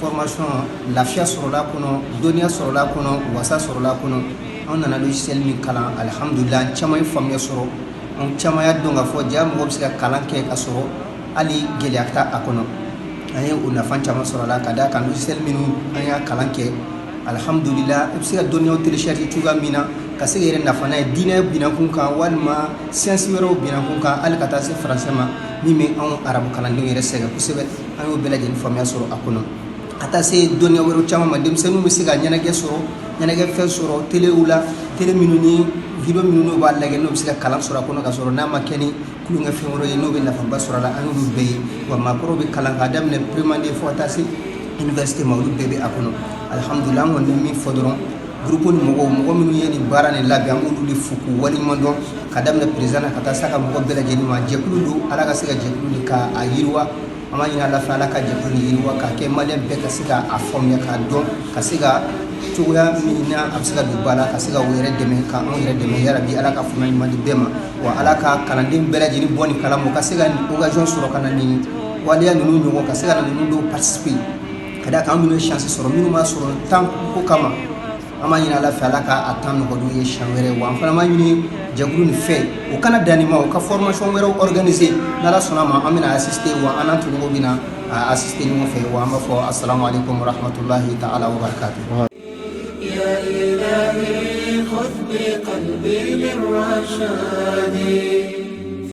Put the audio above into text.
formation lafiya sɔrɔla kɔnɔ dɔnniya sɔrɔla kɔnɔ wasa sɔrɔla kɔnɔ an nana logiciel min kalan alhamdulila an caman ye faamuya sɔrɔ an caman y'a dɔn k'a fɔ jaa mɔgɔ bɛ se ka kalan kɛ ka sɔrɔ hali gɛlɛya t'a a kɔnɔ an ye o nafa caman sɔrɔ a la ka d'a kan logiciel minnu an y'a kalan kɛ alhamdulila i bɛ se ka dɔnniyaw télécharger cogoya min na ka se ka yɛrɛ nafa n'a ye diinɛ binakun kan walima science wɛrɛw binakun kan hali ka taa se français ma min bɛ anw arabu kalandenw yɛrɛ sɛgɛn kosɛbɛ an y'o bɛɛ lajɛlen faamuya sɔrɔ a kɔnɔ ka taa se dɔnniya wɛrɛw caman ma denmisɛnninw bɛ se ka ɲɛnajɛ sɔrɔ ɲɛnajɛ fɛn sɔrɔ téléw la télé minnu ni vidéo minnu n'o b'a lajɛ n'o bɛ se ka kalan sɔrɔ a kɔnɔ ka sɔrɔ n'a ma kɛ ni tulonkɛfɛn wɛrɛ ye n'o bɛ nafaba sɔrɔ a la an y'olu bɛɛ ye wa maakɔrɔ bɛ kalan k'a daminɛ première année fo ka taa se université ma olu bɛɛ bɛ a kɔnɔ alhamdulila an kɔni bɛ min fɔ dɔrɔn groupe ni mɔgɔ mɔgɔ minnu ye nin baara nin labɛn an b'olu de fo k'u waleɲuman dɔn ka daminɛ président na ka taa se a ka mɔgɔ bɛɛ lajɛlen ma jɛkulu don ala ka se ka jɛkulu de ka a yiriwa an b'a ɲini ala fɛ ala ka jɛkulu nin yiriwa k'a kɛ maliyɛn bɛɛ ka se k'a faamuya k'a dɔn ka se ka cogoya min na a bɛ se ka don ba la ka se k'u yɛrɛ dɛmɛ ka anw yɛrɛ dɛmɛ yarabi ala ka faamuya ɲuman di bɛɛ ma wa ala ka kalanden bɛɛ lajɛlen bɔ nin kala ma ka se ka occasion sɔrɔ ka na nin waleya ninnu ɲɔgɔn ka se ka na ninnu dɔw participer ka d'a kan an minnu ye chance sɔrɔ minnu m'a sɔrɔ temps ko kama an b'a ɲini ala fɛ ala k'a temps nɔgɔya u ye siɲɛ wɛrɛ wa an fana b'a ɲini jɛkulu nin fɛ u kana dan nin ma u ka formation wɛrɛw organiser n'ala sɔnna a ma an bɛna assister wa an n'an tɔɲɔgɔnw bɛna assister ɲɔgɔn fɛ wa an b'a fɔ assalamu alaikum warahmatulahi ta'ala wa barakatuh